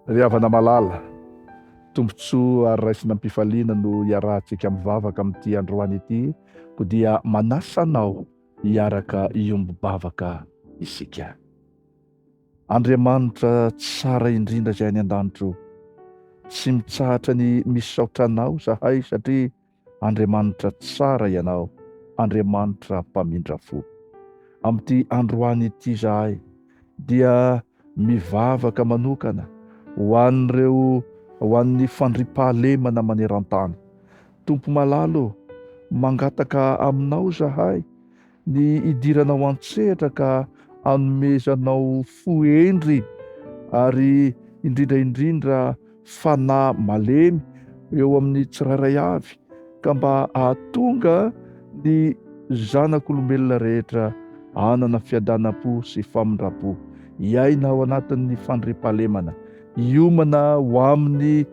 Ry havana malala, tombontsoa ary raisina am-pifaliana no iarahantsika mivavaka amin'ity androany ity, koa dia manasa anao hiaraka hiombom-bavaka isika. Andriamanitra tsara indrindra izay any an-danitra ô, tsy mitsahatra ny misaotra anao izahay satria Andriamanitra tsara Ianao, Andriamanitra mpamindra fo. Amin'ity androany ity izahay dia mivavaka manokana ho an'ireo ho an'ny fandriampahalemana maneran-tany. Tompo malalo ô, mangataka Aminao izahay Ny hidiranao an-tsehatra ka hanomezanao fo hendry ary indrindra indrindra fanahy malemy eo amin'ny tsirairay avy ka mba hahatonga ny zanak'olombelona rehetra hanana fiadanam-po sy famindram-po, hiaina ao anatin'ny fandriampahalemana, hiomana ho amin'ny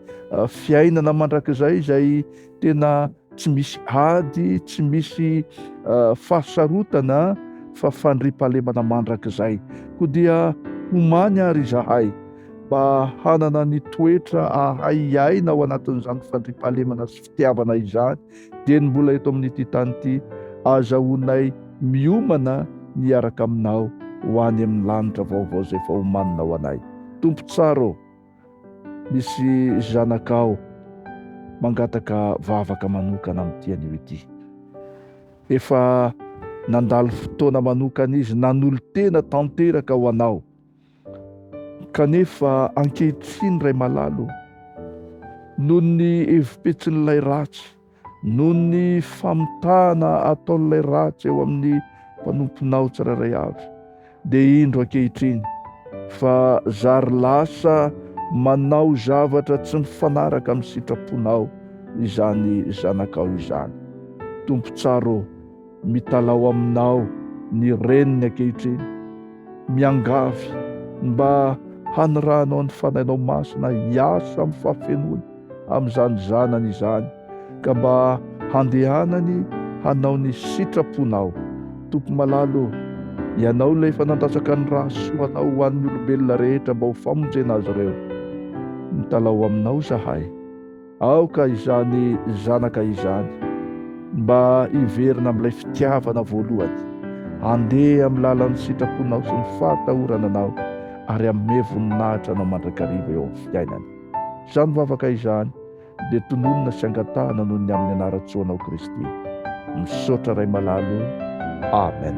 fiainana mandrakizay izay tena tsy misy ady, tsy misy fahasarotana fa fandriampahalemana mandrakizay. Koa dia homany ary izahay mba hanana ny toetra ahay hiaina ao anatin'izany fandriampahalemana sy fitiavana izany, dia ny mbola eto amin'ity tany ity, azahoanay miomana ny hiaraka aminao ho any amin'ny lanitra vaovao izay efa homanina ho anay. Tompo tsara ô! Misy zanakao mangataka vavaka manokana amin'ity anio ity. Efa nandalo fotoana manokana izy nanolo-tena tanteraka ho anao. Kanefa ankehitriny Ray Malalo, noho ny hevi-petsin'ilay ratsy, Noho ny famitahana ataon'ilay ratsy eo amin'ny mpanomponao tsirairay avy, dia indro ankehitriny fa zary lasa manao zavatra tsy mifanaraka amin'ny sitraponao izany zanakao izany. Tompo tsara ô! Mitalaho aminao ny reniny ankehitriny, miangavy mba hanirahanao ny fanahinao masina hiasa amin'ny fahafenoany amin'izany zanany izany, ka mba handehanany hanao ny sitraponao. Tompo malala ô, Ianao ilay efa nandatsaka ny rà sy soanao ho an'ny olombelona rehetra mba ho famonjena azy ireo. Mitalaho aminao izahay. Aoka izany zanaka izany mba hiverina amin'ilay fitiavana voalohany, handeha amin'ny lalan'ny sitraponao sy ny fahatahorana anao, ary hanome voninahitra anao mandrakariva eo amin'ny fiainany. Izany vavaka izany dia tononina sy angatahana noho ny amin'ny anaran-tsoanao Kristy. Misaotra Ray malala o. Amen.